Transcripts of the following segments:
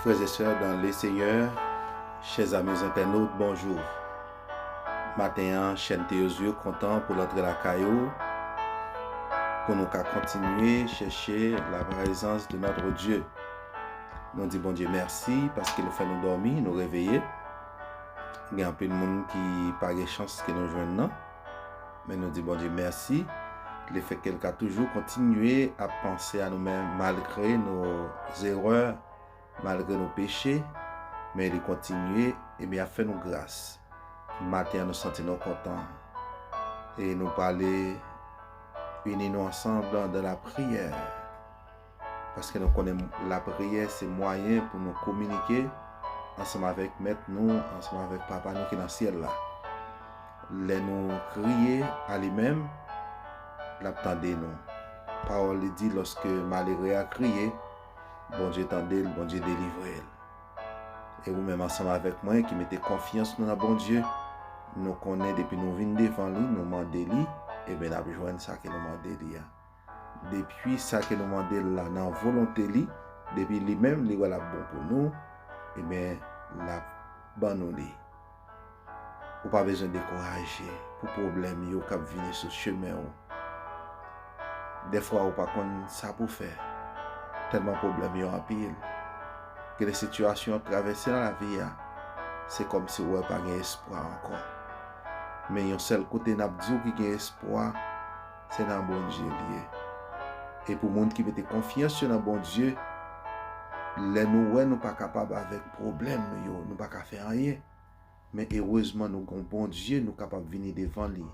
Frères et sœurs dans le Seigneur, chers amis internautes, bonjour. Maten an, chèn Theozieu kontan pou l antre lakay ou, pou nou ka kontinye chèche la praizans de notre Dieu. Nou di Bondye mèsi paske nou fè nou dòmi, nou reveye. Gen anpil moun ki pa gen chans ke nou jwenn nan. Men nou di Bondye mèsi le fèt ke l ka toujou kontinye ap panse a nou menm malgre nou zerè, malgre nou peche, men li kontinye ebyen ap fè nou gras. Maten an nou santi nou kontan e nou prale ini nou ansanm nan lapriyè. paske nou konnen lapriyè se mwayen pou nou kominike ansanm avèk mèt nou, ansanm avèk papa nou ki nan syèl la. Lè nou kriye a li menm, lap tande nou. Pawòl li di lòske malere a kriye, Bondye tande l, Bondye delivre l. E ou menm ansanm avèk mwen ki mete konfyans nou nan Bondye, nou konnen depi nou vin devan li, nou mande li, eben nap jwenn sa ke nou mande li a. Depi sa ke nou mande l la nan volonte li, depi li menm li wè l ap bon pou nou, enben l ap ban nou li. Ou pa bezwen dekouraje pou pwoblèm yo k ap vini sou chemen ou. Dèfwa ou pa konn sa pou fè, tèlman pwoblèm yo anpil. Gen de sitiyasyon w ap travèse nan lavi a, se kòmsi ou wè pa gen espwa ankò. Men yon sèl kote n ap di w ki gen espwa, se nan Bondye li ye. E pou moun ki mete konfyans yo nan Bondye, lè nou wè nou pa kapab avèk pwoblèm nou yo, nou pa ka fè anyen, men erezman nou gen yon Bondye nou kapab vini devan li,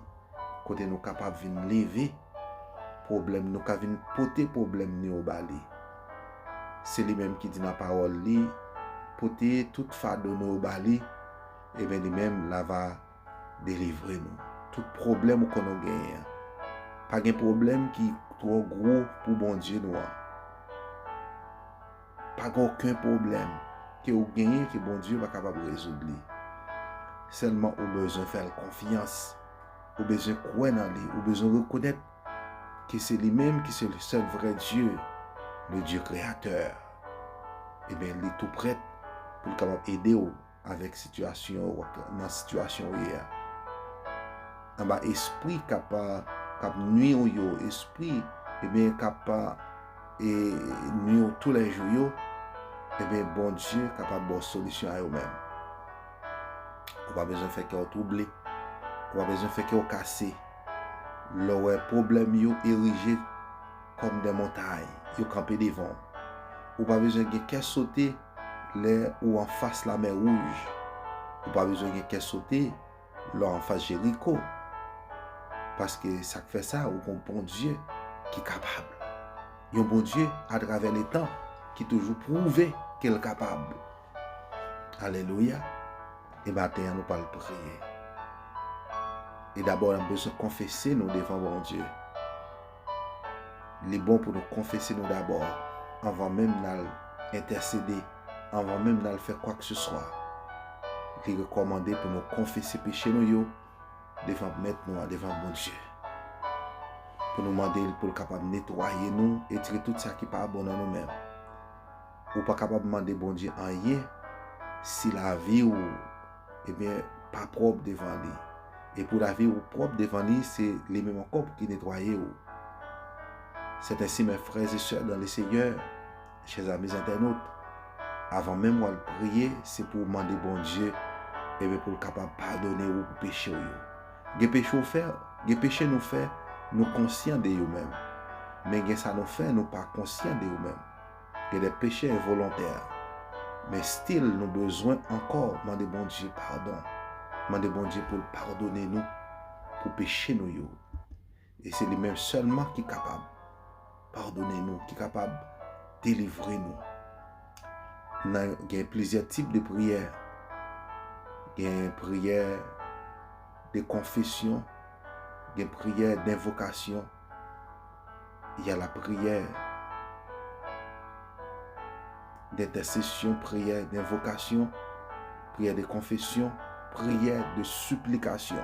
kote nou kapab vin leve pwoblèm, nou ka vin pote pwoblèm nou yo ba li. Se li menm ki di nan pawòl li, pote tout fado nou yo ba li, e ben li menm la va delivre nou tout pwoblèm ou konnen w genyen an. Pa gen pwoblèm ki twò gwo pou Bondye nou an. Pa gen oken pwoblèm ke ou genyen ke Bondye pa kapab rezoud li. Sèlman ou bezwen fè l konfyans, ou bezwen kwè nan li, ou bezwen rekonèt ke se li menm ki se sèl vrè Dye, le Dye kreyatè. Ebyen li tou prèt pou l kapab ede w avèk sitiyasyon ou ak nan sitiyasyon ou ye a. Anba espri k ap kap nwi ou yo, espri ebyen k ap e nwi ou tou lè jou yo, ebyen Bondye kapab ba w solisyon a yo menm. Ou pa bezwen fè kè w twouble, ou pa bezwen fè kè w kase lè w wè pwoblèm yo erije kòm de montay, yo kanpe devan w. Ou pa bezwen gen kè sote lè ou anfas Lamè Wouj. Ou pa bezwen gen kè sote lè w anfas Jeriko. Paske sa k fè sa, ou gen yon Bondye ki kapab. Yon Bondye atravè letan ki toujou pwouve ke l kapab. Alelouya! E maten an nou pral priye. E dabò n ap bezwen konfese nou devan Bondye. Li bon pou nou konfese nou dabò anvan menm n al entèsede, anvan menm n al fè kwakseswa. Li rekòmande pou nou konfese peche nou yo devan Mèt nou an, devan Bondye. Pou nou mande l pou l kapab netwaye nou, etire tout sa ki pa bon nan nou menm. ou pa kapab mande Bondye anyen si lavi ou ebyen pa pwòp devan li. E pou lavi ou pwòp devan li, se li menm ankò pou ki netwaye ou. C'est ainsi mes frères et sœurs dans le Seigneur, chers amis internautes, avan menm wal priye, se pou ou mande Bondye ebyen pou l kapab padone ou pou peche ou yo. Gen peche ou fè, gen peche nou fè, nou konsyan de yo menm. Men gen sa nou fè nou pa konsyan de yo menm. Gen de peche envolontè, men still nou bezwen ankò mande Bondye padon, mande Bondye pou l padone nou pou peche nou yo. E se li menm sèlman ki kapab padone nou, ki kapab delivre nou. Nan gen plizyè tip de priyè. Gen priyè de konfesyon, gen priyè denvokasyon. y a la prière, d'intercession, prière d'invocation, prière de confession, prière de supplication.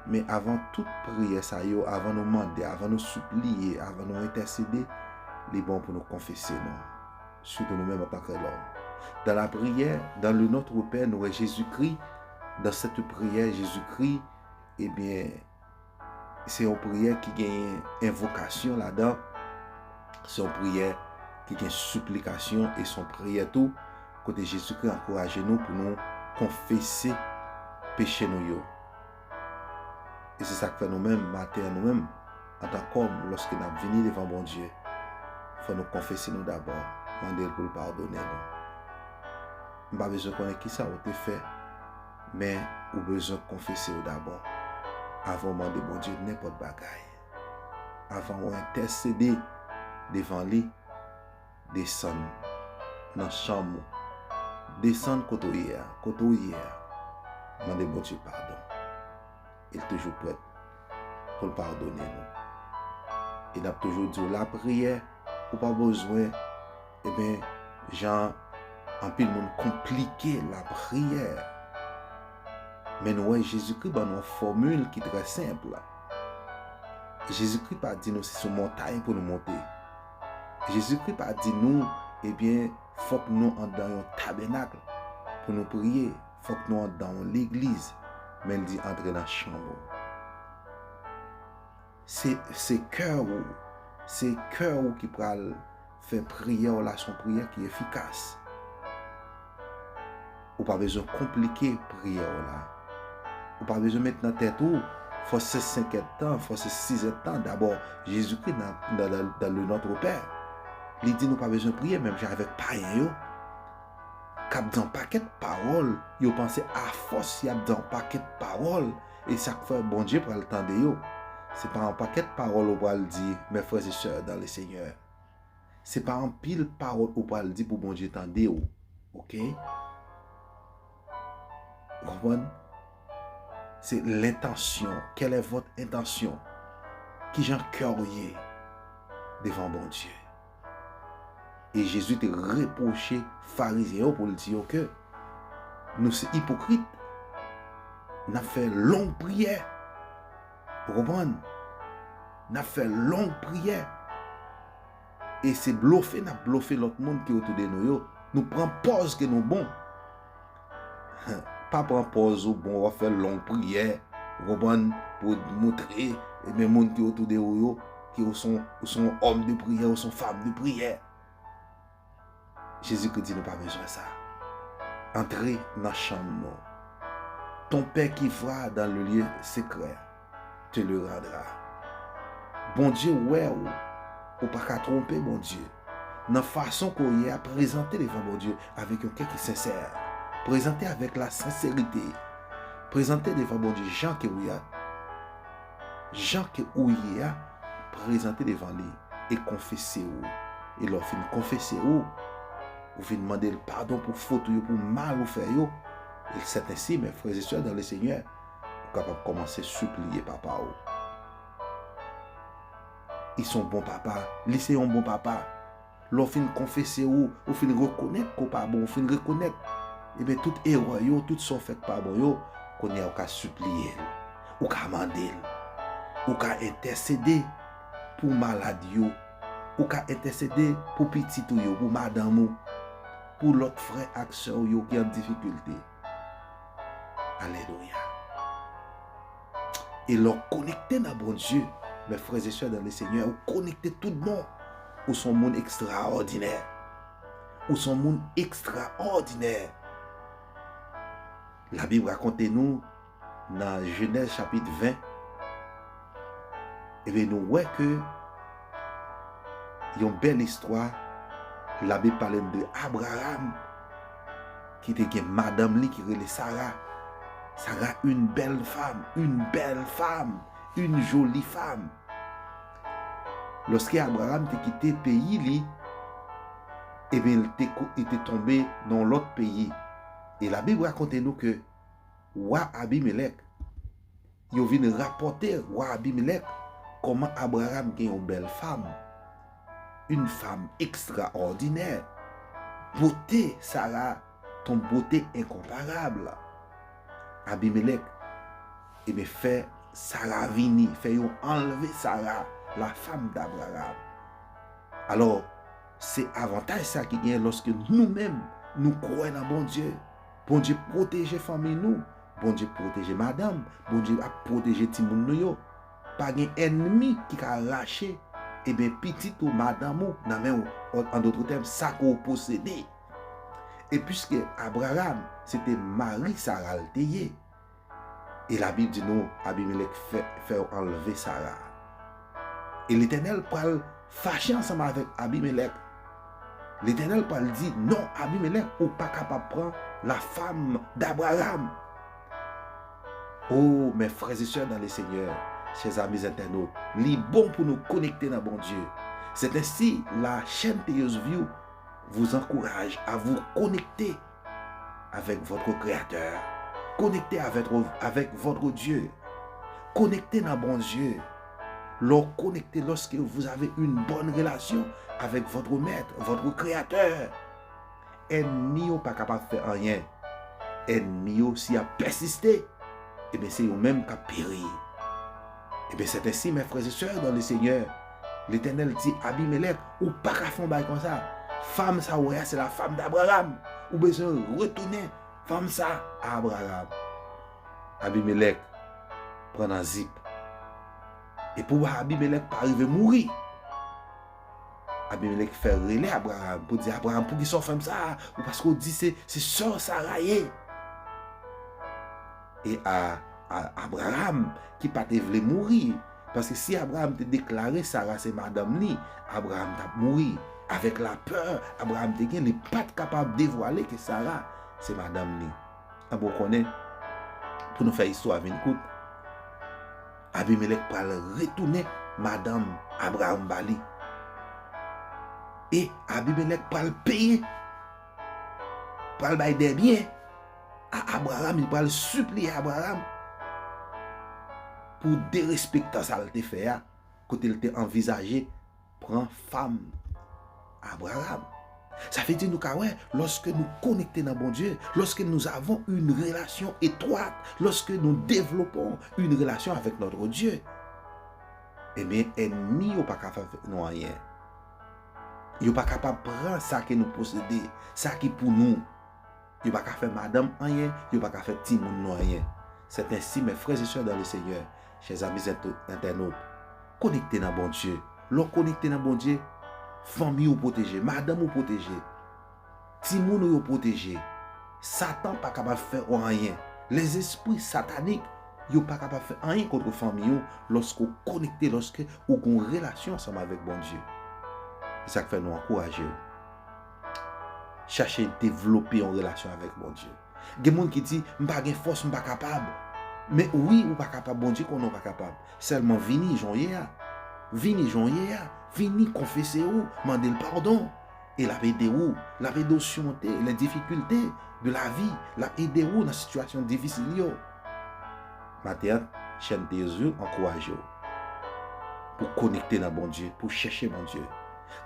Men avan tout priyè sa yo, avan nou mande, avan nou supliye, avan nou entèsede, li bon pou nou konfese nou. Soutou nou men mwen pa kre lòm. Dan la priyè, dan le notre pè, nou wè Jezikri, dan sete priyè Jezikri, ebyen, eh Se yon priyè ki genyen envokasyon ladan, se yon priyè ki gen siplikasyon e se yon priyè tou kote Jezikri ankouraje nou pou nou konfese peche nou yo. E se sa k fè nou menm maten an nou menm antan k òm lòske n ap vini devan Bondye, fò nou konfese nou dabò, mande l pou l padone nou. M pa bezwen konnen kisa ou te fè. Men, ou bezwen konfese w dabò avan w mande Bondye nenpòt bagay. Avan w entèsede devan Li, desann nan chanm ou, desann kote w ye a, kote w ye a, mande Bondye padon. E L toujou prèt pou L padone nou. E n ap toujou di w lapriyè, ou pa bezwen. Ebyen jan anpil moun konplike lapriyè. Men nou wè Jezikri ban nou yon fòmil ki trè senp. Jezikri pa di nou se sou montay pou nou monte. Jezikri pa di nou ebyen fòk nou andan yon tabènak pou nou priye, fòk nou andan yon legliz, men l di antre nan chanm ou. Se se kè ou, se kè ou ki pral fè priyè w la son priyè ki efikas. Ou pa bezwen konplike priyè w la. Ou pa bezwen met nan tèt ou fòk se senkèd tan, fòk se sizèd tan. Dabò, Jezikri nan nan le notre père, li di nou pa bezwen priye menm jan avèk payen yo k ap di yon pakèt pawòl, yo panse afòs y ap di yon pakèt pawòl E sa k fè Bondye pral tande yo? Se pa yon pakèt pawòl ou pral di, Mè frè e sè dan le Senyè. Se pa anpil pawòl ou pral di pou Bondye tande ou. Oke? Ou konprann? Se lentansyon. Kèl è vòt entansyon? Ki jan kè w ye devan Bondye? E Jezi te repwoche Farizyen yo pou l di yo ke, Nou se ipokrit, n ap fè long priyè. Ou konprann? N ap fè long priyè. E se blofe n ap blofe lòt moun ki otoude nou yo. Nou pran pòz ke nou bon. Pa pran pòz ou bon wap fè long priyè, ou konprann, pou moutre e men moun ki otou de ou yo ke ou son ou son yon òm de priyè, ou son fanm de priyè. Jezikri di nou pa bezwen sa. Antre nan chanm nou. Ton pè ki vwa dan le lye sekrè. te le randra. Bondye wè ou, ou pa ka twonpe Bondye nan fason ke w ye a, prezante devan Bondye avèk yon kè ki sensè, prezante avèk la senserite, prezante devan Bondye jan ke ou ye a, jan ke ou ye a, prezante devan li e konfese ou, e lè w fin konfese ou, ou vin mande l padon pou fot ou yo, pou mal ou fè yo, e sèt ensi, mè frè e sè dan le Senyè, Ou kapab kòmanse sipliye papa ou. Li son bon papa. Li se yon bon papa. Lè w fin konfese ou, ou fin rekonèt ke w pa bon, ou fin rekonèt ebyen tout erè w yo, tout sa w fè k pa bon yo, kounye a ou ka sipliye l. Ou ka mande l. Ou ka entèsede pou malad yo. Ou ka entèsede pou pitit ou yo, pou madanm ou, pou lòt frè ak sè w yo ki an difikilte. Alelouya. E lò konekte nan Bondye, mè frè zesè nan le Senyè, ou konekte tout bon. Ou son moun ekstraòdinè. Ou son moun ekstraòdinè. La Bib rakonte nou, Nan Jenèz chapit 20, ebyen nou wè ke yon bèl istwa, labib pale n de Abraram ki te gen madanm li ki rele Sara, Sara yn bèl fanm, yn bèl fanm, yn joli fanm. Lòske Abraram te kite peyi li, ebyen li te tonbe nan yon lòt peyi. E labib rakonte nou ke. wa Abimelèk. Yo vin rapòte wa Abimelèk kòman Abraram gen yon bèl fam, yon fam ekstraòdinè. Bote Sara t yon bote enkonparab. Abimelèk ebyen fè Sara vini, fè yo anlve Sara, lafam d'Abraram. Alò, se avantaj sa ki genyen lòske nou menm nou kwè nan Bondye. Bondye pwoteje fanmiy nou Bondye pwoteje madanm Bondye ap pwoteje timoun nou yo pa gen ènmi ki ka rache ebyen pitit ou madanm ou nan men ou an dotre tèm sa ke ou posede e piske Abraram se te mari Sara l te ye. E Labib di nou Abimelèk fè yo anlve Sara. E Letènèl pral fache ansanm avèk Abimelèk. Letènèl pral di, Non, Abimelèk, ou pa kapab pran lafam d'Abraram. O, mè frèzesè nan Lesenyè, chè zami zentènot, li bon pou nou konekte nan Bondye. Sèt ensi la chèn Teyos Vyou vou zankouraj a vou konekte. avèk votre Créateur, konekte avèk votre Dieu, konekte nan Bondye, lè w konekte, lorsque vous avez une bonne relation avèk votre Maître, votre Créateur, ènmi yo pa kapab fè anyen, ènmi yo si y ap pèsiste, e byen se yo menm k ap peri. E byen sèt ensi mè frè e sè dan le Senyè, Letènèl di Abimelèk, ou pa ka fè yon bagay konsa, fanm sa ou wè a se la fanm d'Abraham, ou bezwen retounen fanm sa a Abraham. Abimelèk pran nan zip. E pou Abimelèk pa rive mouri, Abimelèk fè rele Abraham pou di Abraham pou ki sa ou fè m sa a, ou paske ou di se sè w Sara ye. E Abraham ki pa te vle mouri, Paske si Abraam te deklare Sara se madanm li, Abraam t ap mouri. Avèk lapè Abraam te gen, li pa t kapab devwale ke Sara se madanm li. Anben, ou konnen, pou nou fè istwa a vin kout, Abimelèk pral retounen madanm Abraam ba li. E Abimelèk pral peye, pral bay dè byen. A Abraram, li pral sipliye Abraram pou derespektan sa l te fè a, kote l te anvizaje pran fanm Abraram. Sa vle di nou ka wè, lòske nou konekte nan Bondye, lòske nou avon yn relasyon etwat, lòske nou devlopon yn relasyon avèk notre Dye, ebyen ènmi yo pa ka fè avèk nou anyen. Yo pa kapab pran sa ke nou posede, sa ki pou nou. Yo pa ka fè madanm anyen, yo pa ka fè timoun nou anyen. C'est ainsi mes frères et sœurs dans le Seigneur, chers amis internautes, konekte nan Bondye, lè w konekte nan Bondye, fanmi ou pwoteje, madanm ou pwoteje, timoun ou yo pwoteje, satan pa kapab fè ou anyen, les esprits sataniques yo pa kapab fè anyen kontre fanmi ou lòske ou konekte, lòske ou gen yon relasyon ansanm avèk Bondye. Se sa k fè nou ankouraje w. chache devlope yon relasyon avèk Bondye. Gen moun ki di, m pa gen fòs, m pa kapab. Men wi, ou pa kapab, Bondye konnen ou pa kapab. Sèlman vini jan w ye a. Vini jan w ye a. Vini konfese ou, mande l padon. E l ap ede ou. L ap ede ou simonte lè difikilte de lavi. L ap ede ou nan sitiyasyon difisil yo. Maten an, chèn Teyos View ankouraje w pou w konekte nan Bondye, pou w chèche Bondye.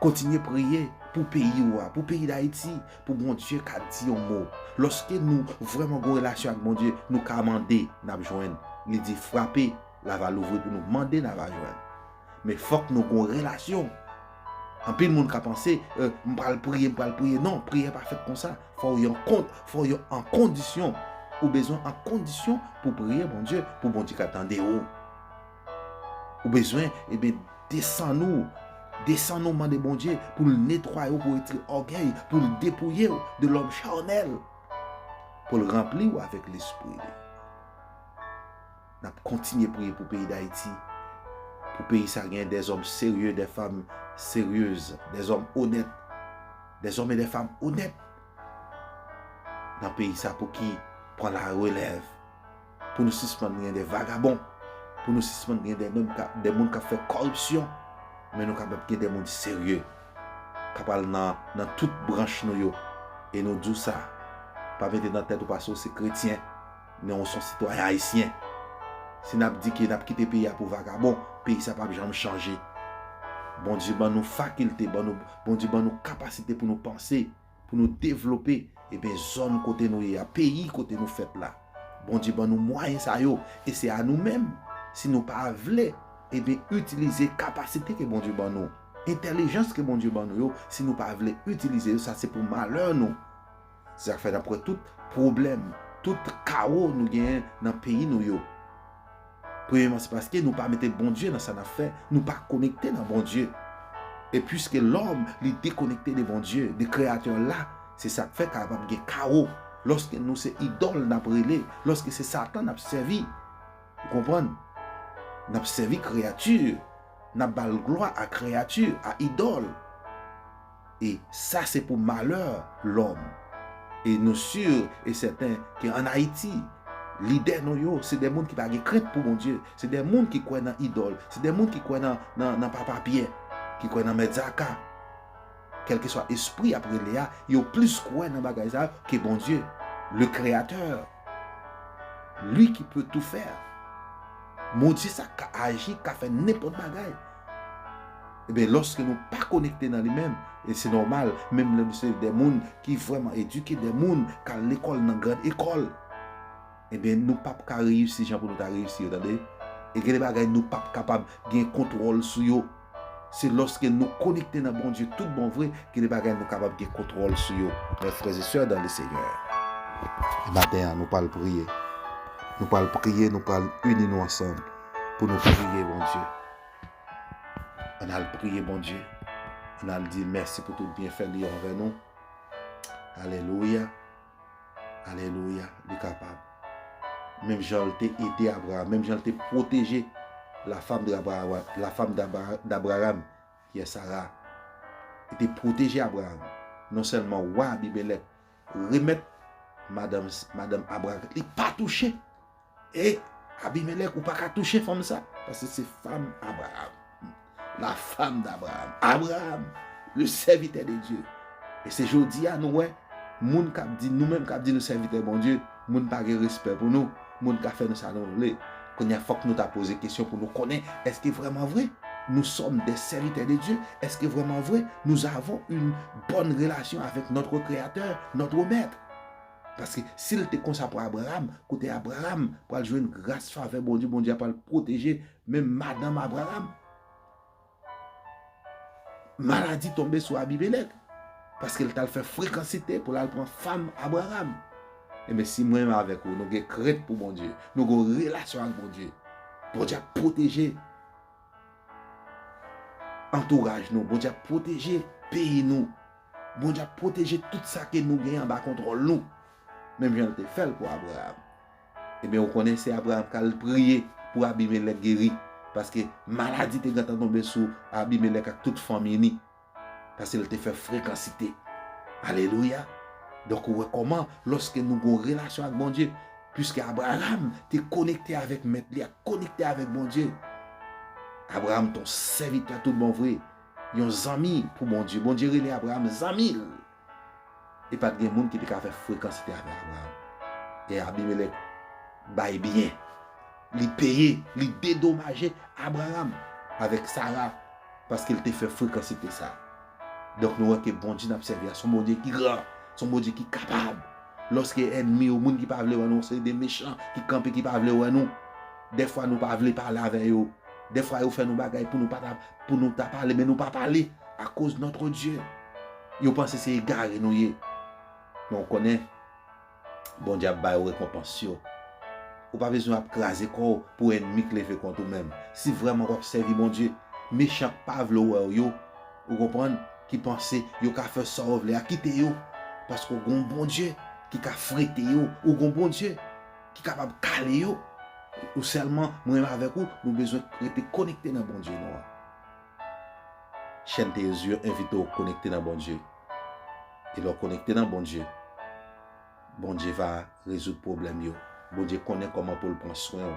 Kontinye priye pou peyi ou a, pou peyi Dayiti, pou Bondye ka di yon mo. Lòske nou vrèman gon relasyon ak Bondye, nou ka mande, n ap jwenn. Li di, frape, l ava louvri pou nou, mande n ava jwenn. Men fòk nou gon relasyon. Anpil moun ka panse, m pral priye, m pral priye. Non, priyè pa fèt konsa. Fò w yon kont, fò w yon an kondisyon. Ou bezwen an kondisyon pou priye Bondye, pou Bondye ka tande ou. Ou bezwen ebyen desann ou, desann ou mande Bondye pou l netwaye ou, pou l retire ògèy, pou l depouye ou de lòm charnèl, pou l ranpli ou avèk lespri li. Nap kontinye priye pou peyi Dayiti, pou peyi sa gen de zòm serye, de fanm seryez, de zòm onèt, de zòm e de fanm onèt nan peyi sa pou ki pran la relèv. Pou nou sispann gen de vagabon. Pou nou sispann gen de nonm kap de moun kap fè kòripsyon. Men nou kapab gen de moun serye. Kap al nan nan tout branch nou yo. E nou di w sa. Pa mete nan tèt ou pase w se kretyen. Men ou son sitwayen ayisyen. Si nap di ke nap kite peyi a pou vagabon. Peyi sa pap janm chanje. Bondye ban nou fakilte. Bondye ban nou kapasite pou nou panse. Pou nou devlope eben zòn kote nou ye a, peyi kote nou fèt la. Bondye ban nou mwayen sa yo e se a nou menm, si nou pa vle eben itilize kapasite ke Bondye ban nou, entèlijans ke Bondye ban nou yo, si nou pa vle itilize yo, sa se pou malè nou. Se sa k fè n ap wè tout pwoblèm, tout kawo nou genyen nan peyi nou yo. Premyeman se paske nou pa mete Bondye nan sa nap fè, nou pa konekte nan Bondye. E pwiske lòm li dekonekte de Bondye, de kreyatè la, se sak fè kapab gen kawo, lòske nou se idòl nap rele, lòske se satan nap sèvi. Ou konprann? Nap sèvi kreyati, nap bal glwa a kreyati, a idòl. E sa se pou malè lòm. E nou sur e sèten ke an Ayiti, lidè nou yo se de moun ki pa gen krent pou Bondye, se de moun ki kwè nan idòl, se de moun ki kwè nan, nan, nan Papa Pyè, ki kwè nan Mèt Zaka. Kèlkeswa espri y ap rele a, yo plis kwè nan bagay sa yo ke Bondye, le Créateur, Lui qui peut tout faire. Bondye sa k ka aji, k ka fè nenpòt bagay. Ebyen lòske nou pa konekte nan li menm, e se nòmal, menm lè nou se de moun ki vrèman edike, de moun k al lekòl nan gran ekòl, ebyen nou pap ka reyisi jan pou nou ta reyisi yo tande. E gen de bagay nou pap kapab gen kontwòl sou yo. Se lòske nou konekte nan Bondye tout bon vre gen de bagay nou kapab gen kontwòl sou yo. Mè frèzesè dan le Senyè, e maten an nou pral priye, nou pral priye, nou pral ini nou ansanm pou nou priye Bondye. An n al priye Bondye. An n al di l mèsi pou tout byenfè li anvè nou. Alelouya! Alelouya! Li kapab. Menm jan l te ede Abraram, menm jan l te pwoteje lafam Dabraram, ki yè Sara, li te pwoteje Abraram. Non sèlman wa Abimelèk remèt madanm Abraram, li pa touche. E Abimelèk, ou pa ka touche fanm sa, paske se fanm Abraam, la femme d'Abraham. Abraam, le sèvitè de Dye. E se jodi a nou wè, moun k ap di, nou menm k ap di nou sèvitè Bondye, moun pa gen respè pou nou, moun ka fè nou sa nou vle. Kounye a, fòk nou ta poze kesyon pou nou konnen, èske vrèman vre, nou sòm dè sèvitè de Dye? Èske vrèman vre, nou zavon yn bòn relasyon avèk Nòtre Kreyatè, Nòtre Mèt? Paske, si l te konsa pou Abraram, kote Abraram pral jwenn gras, favè Bondye, Bondye ap pral pwoteje menm madanm Abraram? Maladi tonbe sou Abimelèk, paske l t al fè frekansite pou l al pran fanm Abraram. Enben, si mwen menm avèk ou, nou gen krent pou Bondye, nou gen yon relasyon ak Bondye, Bondye ap pwoteje antouraj nou, Bondye ap pwoteje peyi nou. Bondye ap pwoteje tout sa ke nou gen anba kontwòl nou, menm jan l te fè l pou Abraram. Ebyen, ou konnen se Abraram k al priye pou Abimelèk geri, paske maladi te gentan tonbe sou Abimelèk ak tout fanmi ni, paske l te fè frekansite. Alelouya! Donk, ou wè kòman lòske nou gen yon relasyon ak Bondye, piske Abraram te konekte avèk Mèt li a, konekte avèk Bondye. Abraram te yon sèvitè toutbonvre. Yon zanmi pou Bondye. Bondye rele Abraram zanmi l. E pa t gen moun ki te ka fè frekansite avè Abraram. E Abimelèk bay biyè. Li peye, li dedomaje Abraram avèk Sara paske l te fè frekansite sa a. Donk nou wè ke Bondye n ap sèvi a se yon Bondye ki gran, se yon Bondye ki kapab. Lòske ènmi yo, moun ki pa vle wè nou, se de mechan ki kanpe ki pa vle wè nou. Dèfwa nou pa vle pale avè yo. Dèfwa yo fè nou bagay pou nou pa ta, pou nou ta pale men nou pa pale a koz notre Dye. Yo panse se egare nou ye. Men ou konnen Bondye ap ba yo rekonpans yo. Ou pa bezwen ap kraze kò w pou enmi k leve kont ou men si vrèman wap sèvi Bondye. Mechan k pa vle w wè w yo, ou konprann, ki panse yo ka fè sa yo vle a kite yo paske w gon Bondye ki ka frete yo. Ou gon Bondye. Ki kapab kale yo. Ou sèlman mwen avèk ou nou bezwen rete konekte nan Bondye nou an. Chèn Teyezi yo envite w konekte nan Bondye. E lè w konekte nan Bondye, Bondye va rezoud pwoblèm yo. Bondye konnen kòman pou l pran swen w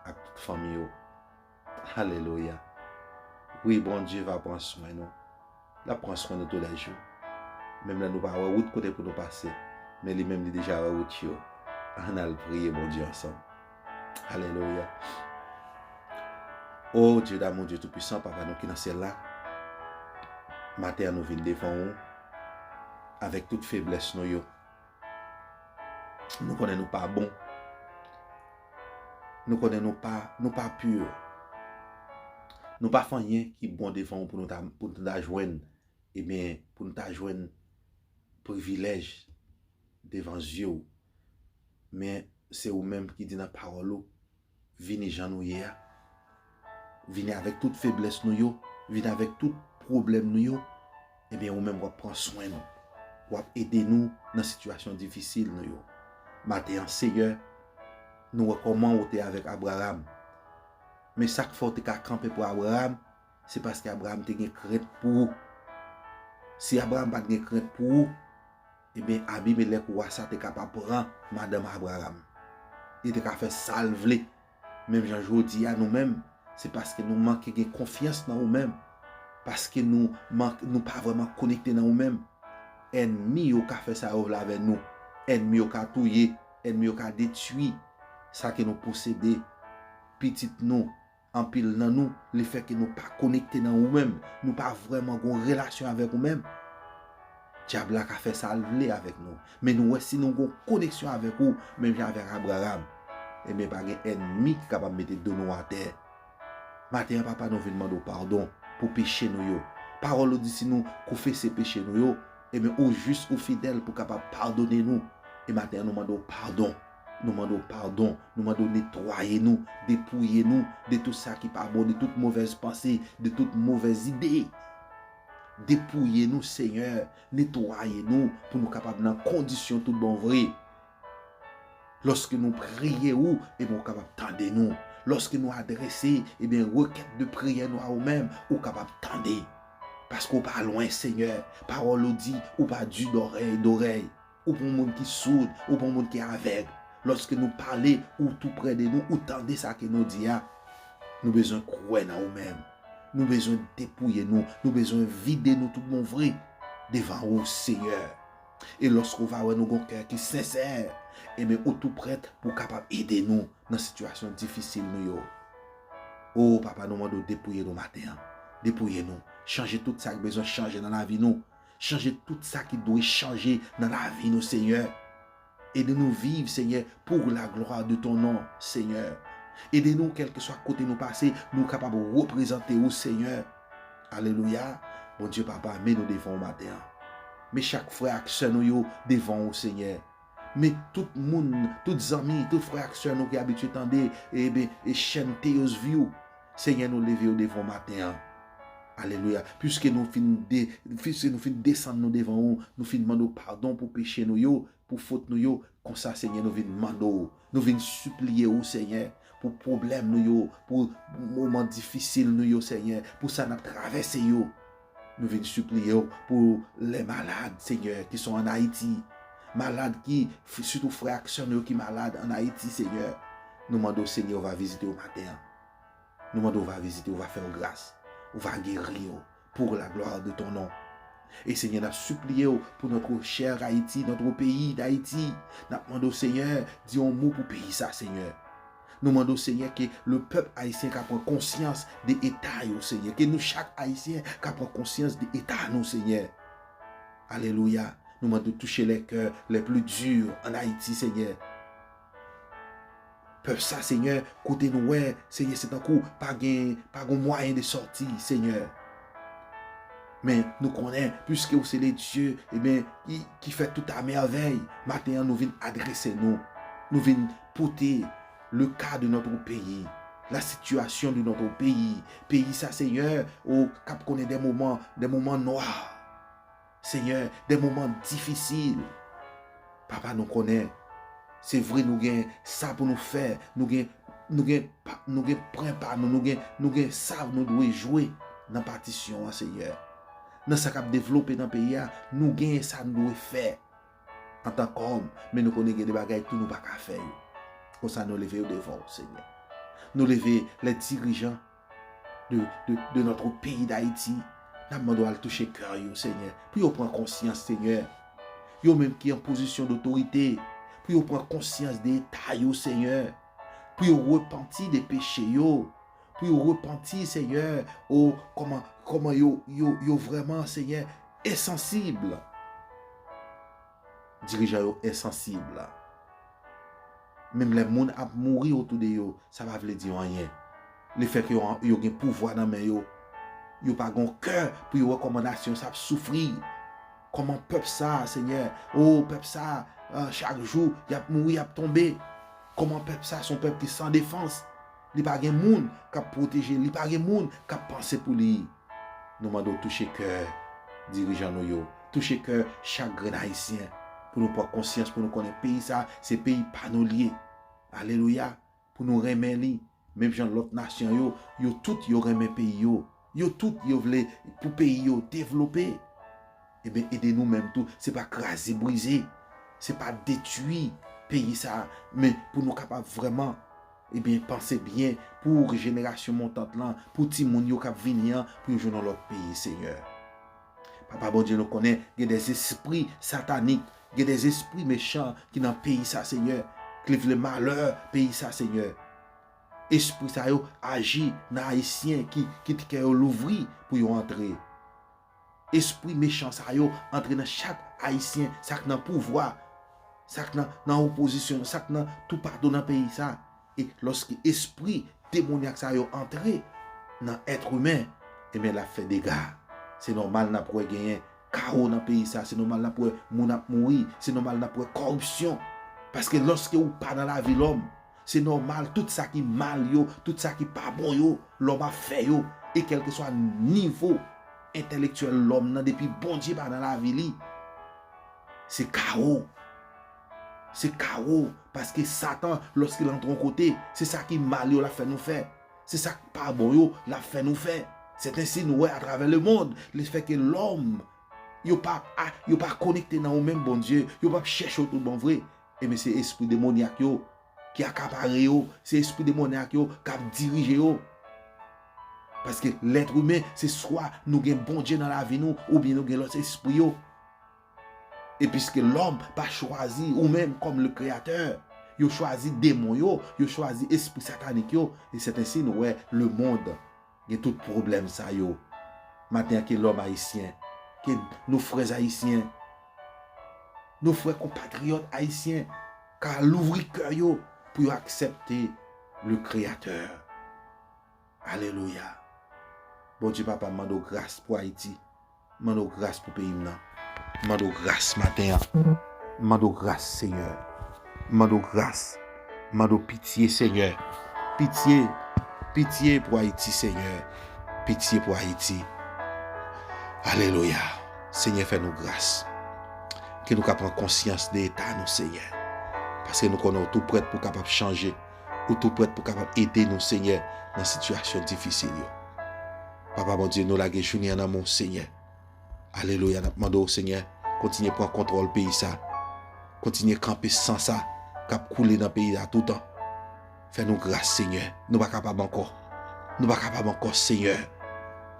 ak tout fanmiy ou. Alelouya wi Bondye va pran swen nou lap pran swen nou tou lè jou menm lè nou pa wè wout kote pou nou pase men li menm li deja wè wout yo ann al priye Bondye ansanm Alelouya O Dye damou Dye tou pwisan papa nou ki nan syèl la maten an nou vin devan ou avèk tout feblès nou yo Nou konnen nou pa bon. Nou konnen nou pa, nou pa pur. Nou pa fè anyen ki bon devan ou pou nou ta, pou nou ta jwenn, e byen, pou nou ta jwenn privilèj devan zye ou. Men, se ou menm ki di nan pawòl ou, Vini jan nou ye a. Vini avèk tout feblès nou yo. Vini avèk tout pwoblèm nou yo. Ebyen ou menm wap pran swen nou. Wap ede nou nan sitiyasyon difisil nou yo. Maten an Seyè, nou wè kòman ou te avèk Abraram. Men sak fè ou te ka kanpe pou Abraram, se paske Abraram te gen krent pou ou. Si Abraram pat gen krent pou ou. Ebyen, Abimelèk, wa sa a te ka pa pran madanm Abraram. Li te ka fè sa l vle. Menm jan jodi a, nou menm, se paske nou manke gen konfyans nan ou menm, paske nou pa vrèman konekte nan ou menm, ènmi yo ka fè sa yo vle avè nou. Ènmi yo ka touye, ènmi yo ka detwi sa ke nou posede, pitit nou, Anpil nan nou, le fè ke nou pa konekte nan ou menm, nou pa vrèman gon relasyon avèk ou menm, Dyab la ka fè sa l vle avèk nou. Men nou wè si nou gon koneksyon avèk ou, menm jan avèk Abraram, enben pa gen ènmi ki kapab mete do nou atè. Maten an Papa nou vin mande w padon pou peche nou yo. Pawòl ou di si nou koufese peche nou yo, enben ou jis ou fidèl pou kapab padone nou. E maten an nou mande w padon. Nou mande w padon, nou mande w netwaye nou, depouye nou de tout sa ki pa bon, de tout movèz panse, de tout movèz ide. Depouye nou Senyè, netwaye nou pou nou kapab nan kondisyon tout bon vre. Lòske nou priye ou, ebyen ou kapab tande nou. Lòske nou adrese, ebyen rekèt de priyè nou a ou menm, ou kapab tande. Paske ou pa lwen Senyè, pawòl ou di, ou pa di dorèy dorèy. Ou pou yon moun ki soud, ou pou yon moun ki avèg. Lòske nou pale, ou tou prè de nou, ou tande sa ke nou di a. Nou bezwen kwè nan ou menm. Nou bezwen depouye nou. Nou bezwen vide nou tout bon vre devan ou, Seyè. E lòske ou va wè nou gen yon kè ki sensè, enben ou tou prèt pou w kapab ede nou nan sitiyasyon difisil nou yo. O, Papa, nou mande w depouye nou maten an. Depouye nou. Chanje tout sa k bezwen chanje nan lavi nou. Chanje tout sa ki dwe chanje nan lavi nou Senyè. Ede nou viv Senyè pour la gloire de ton nom Senyè. Ede nou kelkeswa kote nou pase nou kapab reprezante ou Senyè. Alelouya Bondye papa men nou devan ou maten an. Men chak frè ak sè nou yo devan ou Senyè. Men tout moun, tout zanmi, tout frè ak sè nou ki abitye tande eben chèn Théos View, Senyè nou leve yo devan w maten an. Alelouya. Piske nou fin de, piske nou fin desann nou devan ou, nou fin mande w padon pou peche nou yo, pou fot nou yo, konsa Senyè nou vin mande w, nou vin sipliye ou Senyè, pou pwoblèm nou yo, pou moman difisil nou yo Senyè, pou sa n ap travèse yo, Nou vin sipliye w pou lè malad Senyè ki son an Ayiti malad ki sitou frè ak sè nou yo ki malad an Ayiti Senyè nou mande w Senyè ou va vizite yo maten an nou mande ou va vizite yo va fè yo gras ou va geri yo pour la gloire de ton nom e Senyè nap sipliye w pou notre cher Ayiti notre pays d'Haïti nap mande w Senyè di yon mo pou peyi sa Senyè. Nou mande w Senyè ke le pèp Ayisyen ka pran konsyans de eta yo Senyè, ke nou chak Ayisyen ka pran konsyans de eta nou Senyè. Alelouya, nou mande w touche les cœurs les plus durs en Haïti Senyè. Pèp sa Senyè kote nou wè Senyè se tankou pa gen pa gon mwayen de sòti Senyè. Men nou konnen puiske ou se le Dieu eben ki fè tout a merveille, maten an nou vin adrese nou, nou vin pote le ka de notre peyi, la sitiyasyon de notre peyi, peyi sa senyè o kap konnen de moman, de moman nwa senyè, de moman difisil papa nou konnen se vre nou gen sa pou nou fè nou gen nou gen nou gen pren pa nou, nou gen nou gen sa nou dwe jwe nan patisyon an senyè nan sa kap devlope nan peyi a nou gen sa nou dwe fè. antan k òm, men nou konnen gen de bagay tou nou pa ka fè yo. Konsa nou leve yo devan ou, Senyè. Nou leve les dirigeants de notre peyi Dayiti, n ap mande w al touche kè yo, Senyè, pou yo pran konsyans, Senyè. Yo menm ki an pozisyon dotorite, pou yo pran konsyans de eta yo, Senyè, pou yo repanti de peche yo, Pou yo repanti seyè o kòman kòman yo yo yo vrèman seyè ensansib dirijan yo ensansib menm lè moun ap mouri otou de yo sa pa vle di yo anyen le fè ke yo gen pouvwa nan men yo yo pa gon kè pou yo wè kòman nasyon sa ap soufri kòman pèp sa seyè o pèp sa chak jou yap mouri yap tonbe kòman pèp sa son pèp ki san defans. Li pa gen moun k ap pwoteje l, li pa gen moun k ap panse pou li. Nou mande w touche kè dirijan nou yo, touche kè chak grenn Ayisyen pou nou pran konsyans, pou nou konnen peyi sa a se peyi pa nou li ye. Alelouya! Pou nou renmen li menm jan lòt nasyon yo, yo tout yo renmen peyi yo. Yo tout yo vle pou peyi yo devlope. Eben ede nou menm tou se pa kraze brize, se pa detui peyi sa a men pou nou kapab vrèman eben panse byen pou jenerasyon montant lan, pou timoun yo k ap vini an pou yo jwenn yon lòt peyi Senyè. Papa Bondye nou konnen gen de zespri satanik, gen de zespri mechan ki nan peyi sa Senyè, k li vle malè peyi sa Senyè. Espri sa yo aji nan Ayisyen ki kit kè yo louvri pou yo antre. Espri mechan sa yo antre nan chak Ayisyen sa k nan pouvwa, sa k nan nan opozisyon, sa k nan toupatou nan peyi sa. E lòske espri demonyak sa yo antre nan èt imen, enben l ap fè dega. Se nòmal n ap wè genyen kawo nan peyi sa, se nòmal n ap wè moun ap mouri, se nòmal n ap wè kòripsyon. Paske lòske ou pa nan lavi lòm, Se nòmal tout sa ki mal yo, tout sa ki pa bon yo, lòm ap fè yo, e kèlkeswa nivo entèlektyèl lòm nan depi Bondye pa nan lavi li, se kawo. Se kawo, paske satan lòske l antre yon kote, se sa ki mal yo l ap fè nou fè, se sa k pa bon yo l ap fè nou fè. Sètensi nou wè atravè lemond, lefètke lòm yo pa konekte nan yo menm Bondye, yo p ap chèche w tout bon vre. Ebyen se espri demonyak yo ki akapare yo, se espri demonyak yo k ap dirije yo. Paske lèt imen se swa nou gen Bondye nan lavi nou oubyen nou gen lòt espri yo. E piske lòm pa chwazi ou menm kòm le kreyatè, yo chwazi demon yo, yo chwazi espri satanik yo, e sèt ensi nou wè lemond Gen tout pwoblèm sa yo maten an ke lòm ayisyen, ke nou frè ayisyen, nou frè konpatriyòt ayisyen ka louvri kè yo pou yo aksèpte le kreyatè. Alelouya! Bondye papa m mande w gras pou Ayiti. M mande w gras pou peyi m nan. M mande w gras maten an. M mande w gras Senyè. M mande w gras. M mande w pitye Senyè. Pitye, pitye pou Ayiti Senyè. Pitye pou Ayiti. Alelouya. Senyè fè nou gras. Ke nou ka pran konsyans de eta nou Senyè. Paske nou konnen w tou prèt pou kapab chanje. Ou tou prèt pou kapab ede nou Senyè nan sitiyasyon difisil yo. Papa Bondye nou lage jounin an nan men w Senyè alelouya nap mande w Senyè kontinye pran kontròl peyi sa kontinye kanpe san sa kap koule nan peyi a toutan fè nou gras Senyè nou pa kapab ankò nou pa kapab ankò Senyè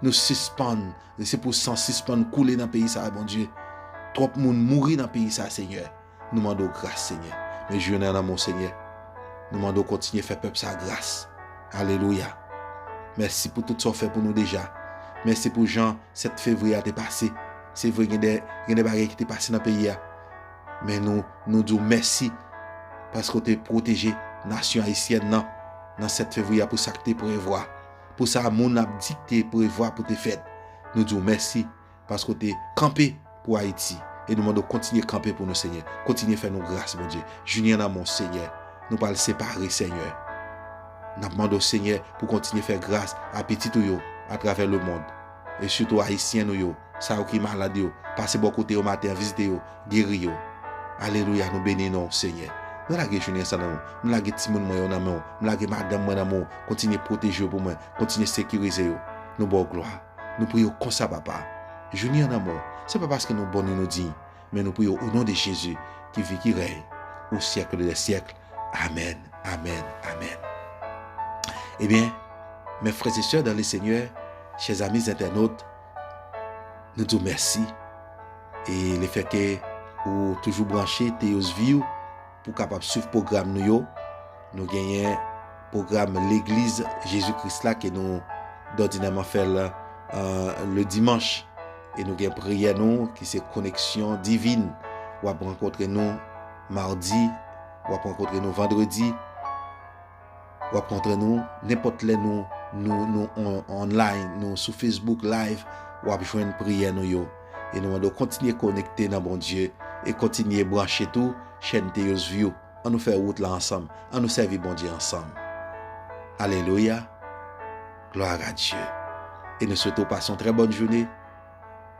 nou sispann se pou san sispann koule nan peyi sa Bondye twòp moun mouri nan peyi sa Senyè. Nou mande w gras Senyè. Men je nan nanm w Senyè. Nou mande w kontinye fè pèp sa gras. Alelouya. Mèsi pou tout sa w fè pou nou deja. Mèsi pou jan 7 fevriye a te pase. Se vre gen de gen de bagay ki te pase nan peyi a. Men nou nou di w mèsi paske w te pwoteje nasyon ayisyèn nan nan 7 fevriye a pou sa k te prevwa. Pou sa moun ap di k te prevwa pou te fèt. Nou di w mèsi. paske w te kanpe pou ayiti e nou mande w kontinye kanpe pou nou senyè kontinye fè nou gras bondye Julian Lamont senyè nou pral separe senyè nap mande w senyè pou kontinye fè gras a pitit ou yo atravè le mond e sitou ayisyen nou yo sa yo ki malad yo pase bò kote yo maten an vizite yo geri yo alelouya nou beni non w senyè mwen lage Julian sa nan men w m lage timoun mwen yo nan men w m lage madanm mwen nan men w kontinye pwoteje yo pou mwen kontinye sekirize yo nou ba w glwa. Nou priye w konsa papa, jouni an amò, se pa paske nou bon ni nou diy, men nou priye w o non de Jezi ki vi ki rèy o syèkl de lè syèkl. Amèn, amèn, amèn. Ebyen, mè frè e sè dan le Senyè, chè zami zentènot, nou di w mèsi e le fè ke ou toujou branche Teyos Viw, Pou kapab swiv pwogram nou yo, nou genyen pwogram Legliz Jezi Kris la ke nou dòdinèman fè l le dimanch. E nou gen priyè nou ki se koneksyon divin. W ap rankontre nou madi, w ap rankontre nou vandredi. Wap kontre nou nenpòt lè nou nou nou on online nou sou Facebook live wap jwenn priyè nou yo e nou mande w kontinye konekte nan Bondye e kontinye branche tou chèn Theosview an nou fè wout la ansanm an nou sèvi Bondye ansanm Alelouya Gloire à Dieu e nou swete w pase yon trè bòn joune.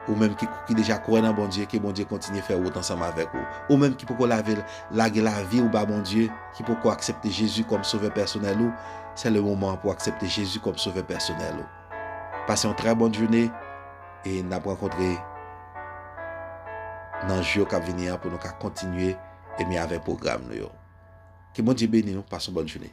Ou menm ki ki deja kwè nan Bondye ke Bondye kontinye fè wout ansanm avèk ou. Ou menm ki poko lave lage lavi ou ba Bondye, ki poko aksepte Jezi kòm sovè pèsonèl ou, sè le moman an pou aksepte Jezi kòm sovè pèsonèl ou. Pase yon trè bòn joune e nap rankontre nan jou yo kap vini an pou nou ka kontinye ebyen avèk pwogram nou yo. Ke Bondye beni nou, pase yon bòn joune.